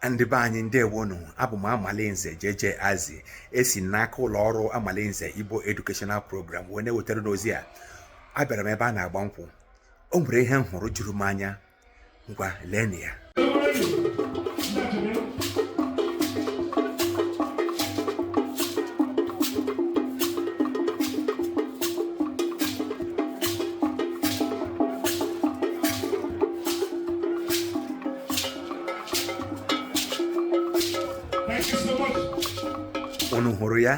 ndị be anyị ndewonu abụ m amalinze JJ azi esi n'aka ụlọ ọrụ amalinze igbo educational program wee na-ewetara unu ozi a abịara m ebe a na-agba nkwụ o nwere ihe m hụrụ juru m anya ngwa leenụ ya unu hụrụ ya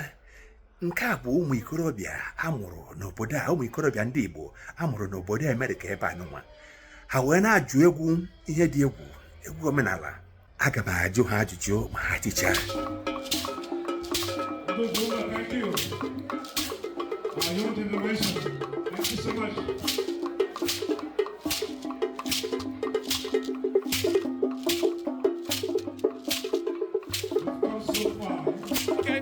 nke a bụ ụmụ ikorobịa a mụrụ n'obodo a ụmụ ikorobịa ndị Igbo a mụrụ n'obodo Amerịka ebe anụnwa ha wee na-ajụ egwu ihe dị egwu egwu omenala aga m ajụ ha ajụjụ ma ha tichaa Okay.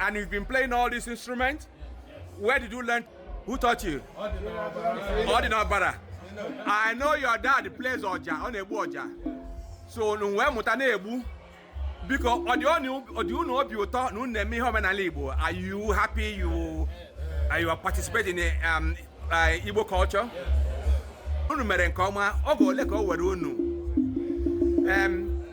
And you've been playing all these instruments? Where did you learn? Who taught you? Ọ dị n'ọbara. I know your dad plays Oja, ọ na-egbu Oja. So unu wee mụta na-egbu. Biko, ọ dị unu- ọ dị unu obi ụtọ na unu na-eme ihe omenala Igbo? Are you happy you, uh, you are participating in um, uh, Igbo culture? Unu mere nke ọma, oge ole ka o were unu? Um,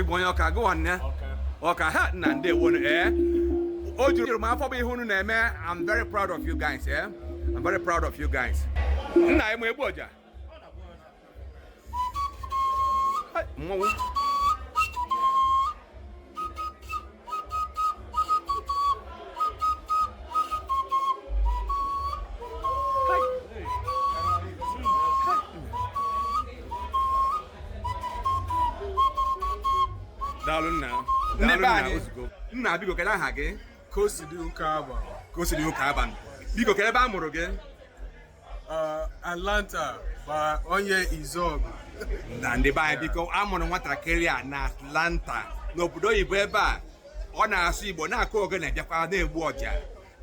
Igbo onye ọka gụwa nne okay nna ndewonu ee eh? o juru m afọ bụ ihe unu na-eme I'm very proud of you guys ee eh? I'm very proud of you guys nna ị ma egbu ọja mmanwụ daalụ nna ndị be anyị nna biko kedu aha gị ka o si dị ụka abalị biko kedu ebe a mụrụ gị Uh, Atlanta bụ onye Izuọgụ. nna ndị be anyị biko a mụrụ nwatakịrị a na Atlanta n'obodo oyibo ebe a ọ na-asụ Igbo na-akụ ogene bịakwa na-egbu ọja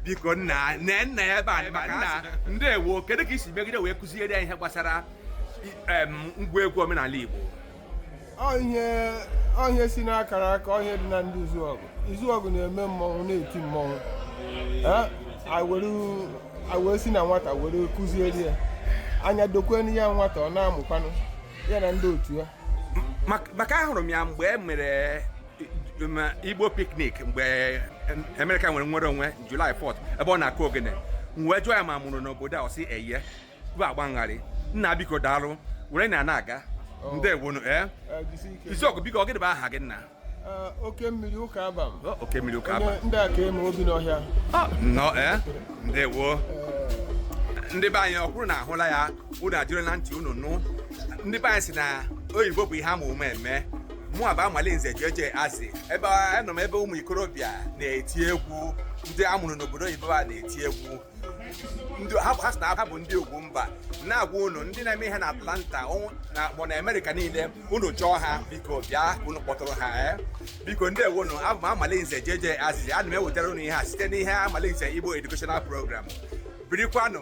biko nna nne nna ya ebe a maka nna ndewo kedu ka i si megide wee kụziere ya ihe gbasara i- em, ngwa egwu omenala Igbo ọ ihe si n'akara aka ọ ihe dị na ndị izuọgụ izuọgụ na-eme mmọnwụ na-eti mmọnwụ were si na nwata were kụzieri ya anya dokwenu ya nwata ọ na-amụkwanụ ya na ndị otu ya maka ahụrụ m ya mgbe e mere igbo picnic mgbe America nwere nwere onwe July 4th ebe ọ na-akụ ogene m wee jụọ ya ma a mụrụ n'obodo a ọ sị eye bụ agba ngharị nna biko daalụ were na na-aga oh. ndewonu ee eh? eh, izuọgụ biko ọ gịnị bụ aha gị nna eh, oke mmiri ụka abam oh, oke mmiri ụka abam ndị akaeme obi n'ọhịa ah, nnọọ ee ndewo ndị be anyị ọ kwa unu ahụla ya unu ejirila ntị unu nụ ndị be anyị sị na oyibo bụ ihe a ma ụma eme mụwa bụ amalinze jeje azị ebe anọ m ebe ụmụ ikorobịa na-eti egwu ndị a mụrụ n'obodo oyibo a na-eti egwu ndị ha ha sị na ha bụ ndị ugwumba na-agwa unu ndị na-eme ihe na atlanta ụnụ- na akpọ na amerịka niile unu chọọ ha biko bịa ka unu kpọtụrụ ha eh. biko ndewonu abụ m amalinze jeje azị ana m ewetara unu ihe a site n'ihe amalinze igbo educational program birikwanụ